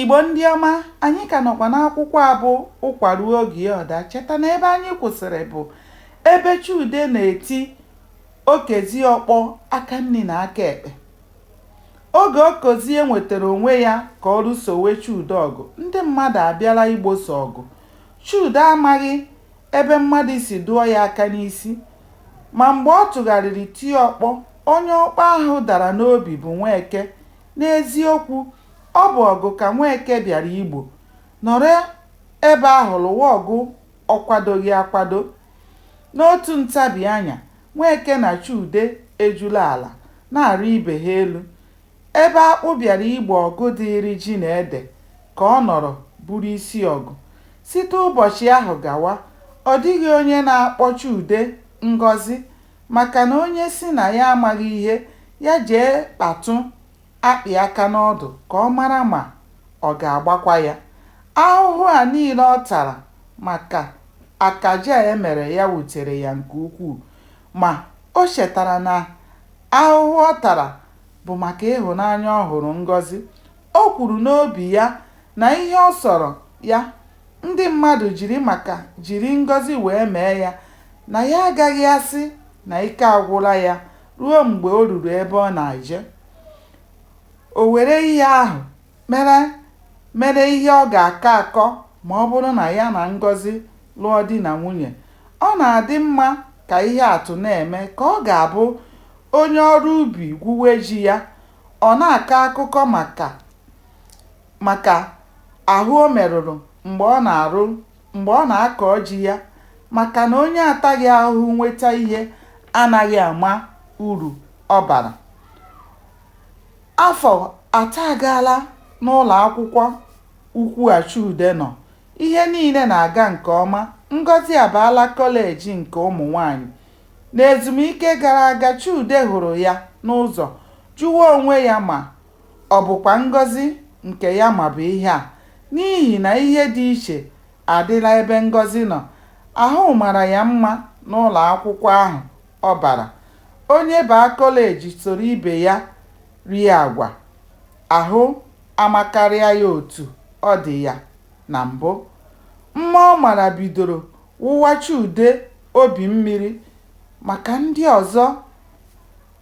Igbo ndị ọma, anyị ka nọkwa n'akwụkwọ a bụ Ụkwa Ruo Oge Ọ Daa. Cheta na ebe anyị kwụsịrị bụ ebe Chude na-eti Okezie ọkpọ aka nri na aka ekpe. Oge Okezie nwetara onwe ya ka ọ lụsowe Chude ọgụ, ndị mmadụ abịala igbosa ọgụ. Chude amaghị ebe mmadụ si dụọ ya aka n'isi, ma mgbe ọ tụgharịrị tie ọkpọ, onye ọkpọ ahụ dara n'obi bụ Nweke N'eziokwu, ọ bụ ọgụ ka Nweke bịara igbo, nọrọ ebe ahụ lụwa ọgụ ọ kwadoghị akwado. N'otu ntabi anya, Nweke na Chude ejula ala na-arị ibe ha elu. Ebe Akpụ bịara igbo ọgụ dịịrị Ji na Ede ka ọ nọrọ bụrụ isi ọgụ. Site ụbọchị ahụ gawa, ọ dịghị onye na-akpọ Chude Ngọzi Maka na onye sị na ya amaghị ihe, ya jee kpatụ akpị aka n'ọdụ ka ọ mara ma ọ ga-agbakwa ya. Ahụhụ a niile ọ tara maka akaje a e mere ya wutere ya nke ukwuu. Ma, o chetara na ahụhụ ọ tara bụ maka ịhụnanya ọ hụrụ Ngọzi. O kwuru n'obi ya Na ihe ọ sọrọ ya, ndị mmadụ jiri maka jiri Ngọzi wee mee ya, na ya agaghị asị na ike agwụla ya ruo mgbe o ruru ebe ọ na-eje. O were ihe ahụ mere mere ihe ọ ga-akọ akọ ma ọ bụrụ na ya na Ngọzi lụọ di na nwunye. Ọ na-adị mma ka ihe atụ na-eme ka ọ ga-abụ onye ọrụ ubi gwuwe ji ya, ọ na-akọ akụkọ maka. maka ahụ o merụrụ mgbe ọ na-arụ mgbe ọ na-akọ ji ya maka na onye ataghị ahụhụ nweta ihe anaghị ama uru ọ bara. Afọ atọ agaala n'ụlọakwụkwọ ukwu a Chude nọ, ihe niile na-aga nke ọma, Ngọzi abaala kọleji nke ụmụnwaanyị. N'ezumike gara aga, Chude hụrụ ya n'ụzọ jụwa onwe ya ma Ọ bụkwa Ngọzi nke ya ma bụ ihe a, n'ihi na ihe dị iche adịla ebe Ngọzi nọ. Ahụ mara ya mma n'ụlọ akwụkwọ ahụ ọ bara. Onye baa kọleji soro ibe ya rie agwa, ahụ amakarịa ya otu ọ dị ya na mbụ. Mma ọ mara bidoro wụwa Chude obi mmiri maka ndị ọzọ.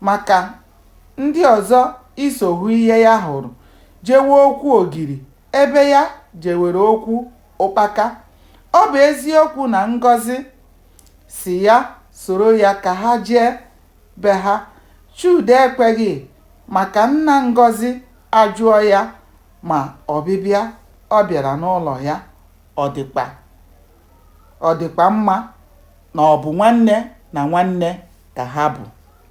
Maka ndị ọzọ iso hụ ihe ya hụrụ jewe okwu ogiri ebe ya jewere okwu ụkpaka. Ọ bụ eziokwu na Ngọzi sị ya soro ya ka ha jee be ha, Chude ekweghị maka nna Ngọzi ajụọ ya ma ọbịbịa ọ bịara n'ụlọ ya ọ dịkwa ọ dịkwa mma na ọ bụ nwanne na nwanne ka ha bụ.